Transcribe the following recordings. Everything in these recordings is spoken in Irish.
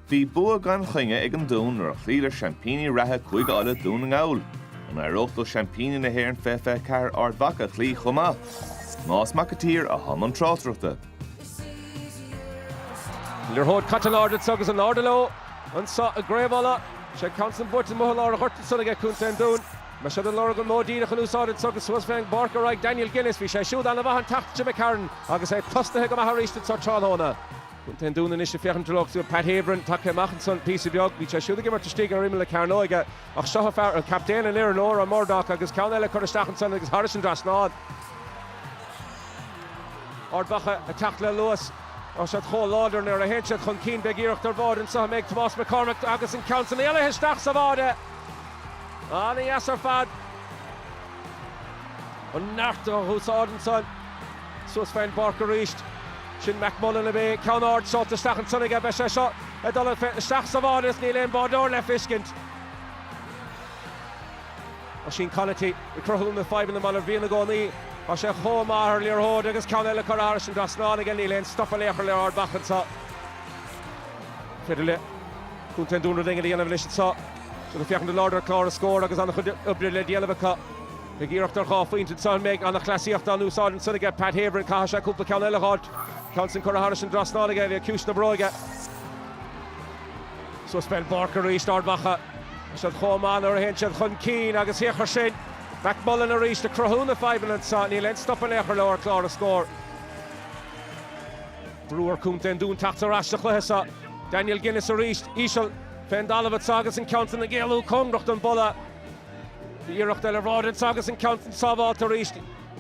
Bhí bua gan choinne ag An Dún nuair a chloíodar seaimpíní reatha Chúige Uladh, Dún na nGall. An éireodh leo seaimpíní na hÉireann 2024 Ard Mhacha a chloí chomh maith? Tomás Mac an tSaoir atá i mbun tráchtaireachta. Liathróid caite in airde agus in airde leo anseo i gCraobh Uladh. Is é an ceann san buaite amuigh i lár an ghoirt ansan aige Contae an Dúin. Beidh siad ag lorg an modh díreach in úsáid anseo agus suas fén bpáirc ar aghaidh Daniel Guinness. Bhí sé siúd ana mhaith an tseachtain seo d'imigh tharainn agus é tosnaithe go maith arís anseo tráthnóna. Contae an Dúin anois ag féachaint ar lucht Pat Havern tagtha amach ansan, píosa beag. Bhí sé siúd ag imirt istigh ar imeall na cearnóige ach seo é an fear, an captaen, an fhoireann, Odhran Murdock, agus ceann eile curtha isteach ansan agus thairis an dtrasnán. Ard Mhacha ag teacht le luas. Tá siad chomh láidir nuair a théann siad chun cinn, beidh iarracht ar bháide anso an mbeidh Tomás McCormack agus an ceann san éalaithe isteach sa bháide. Ana dheas ar fad an neart a úsáid ansan. Suas fén bpáirc arís. Sin McMullan ab ea? Ceann ard seolta isteach ansan aige. Beidh sé seo ag dul isteach sa bháide agus níl aon báideoir le feiscint. Oisín Conaty ag cruthú na fadhbanna mar a bhíonn i gcónaí. Tá sé chomh maith ar liathróid agus ceann eile curtha thairis an dtrasnán aige. Níl aon stop in aon chor le Ard Mhacha anseo. Féidir le Contae an Dúin rud éigin a dhéanamh anois anseo. Siad ag féachaint in airde ar chlár na scór agus an-chuid oibre le déanamh acu. Beidh iarracht ar dhá phointe anseo an mbeidh ana-chleasaíocht in úsáid ansan aige Pat Havern. Caithfidh sé cúpla ceann eile a fháilt. Ceann san curtha thairis an dtrasnán aige, le ciumhais na bróige. Suas fén bpáirc arís, Ard Mhacha. Siad chomh maith nuair a théann siad chun cinn agus féach air sin. McMullan arís ag cruthú na fadhbanna anseo, níl aon stop in aon chor leo ar chlár na scór. Brú ar Contae an Dúin teacht ar ais sa chluiche seo. Daniel Guinness arís, íseal fén dtalamh anseo agus an ceann san ag éalú cóngarach don bpolla. Iarracht eile ar bháide anseo agus an ceann san sábháilte arís.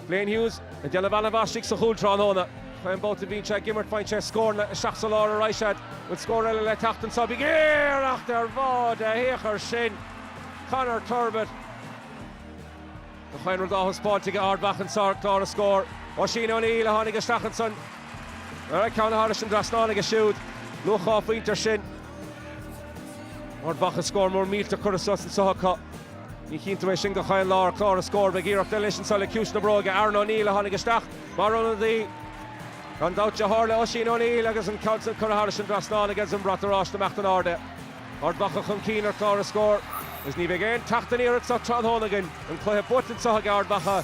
Blaine Hughes ag déanamh ana mhaith istigh sa chúl tráthnóna. Gach aon bhabhta bhíonn sé ag imirt faigheann sé scóranna isteach sa lár a raghaidh siad an bhfuil scór eile le theacht anseo. Beidh iarracht ar bháide féach air sin. Conor Turbitt. Gach aon rud á thaispeáint aige Ard Mhacha anseo ar chlár na scór. Oisín O'Neill a tháinig isteach ansan. Dara ceann thairis an dtrasnán aige siúd. Luach dhá phointe air sin. Ard Mhacha scór mór millteach curtha suas anso acu. Ní chíonn tú é sin gach aon lá ar chlár na scór. Beidh iarracht eile anois anso le ciumhais na bróige, Aaron O'Neill a tháinig isteach mar ionadaí. Gan dabht deartháir le Oisín O'Neill agus an ceann san curtha thairis an dtrasnán aige is an brat oráiste ag imeacht in airde. Ard Mhacha chun cinn ar chlár na scór. Is ní bheidh aon teacht aniar anseo tráthnóna againn. An cluiche buaite anseo aige Ard Mhacha.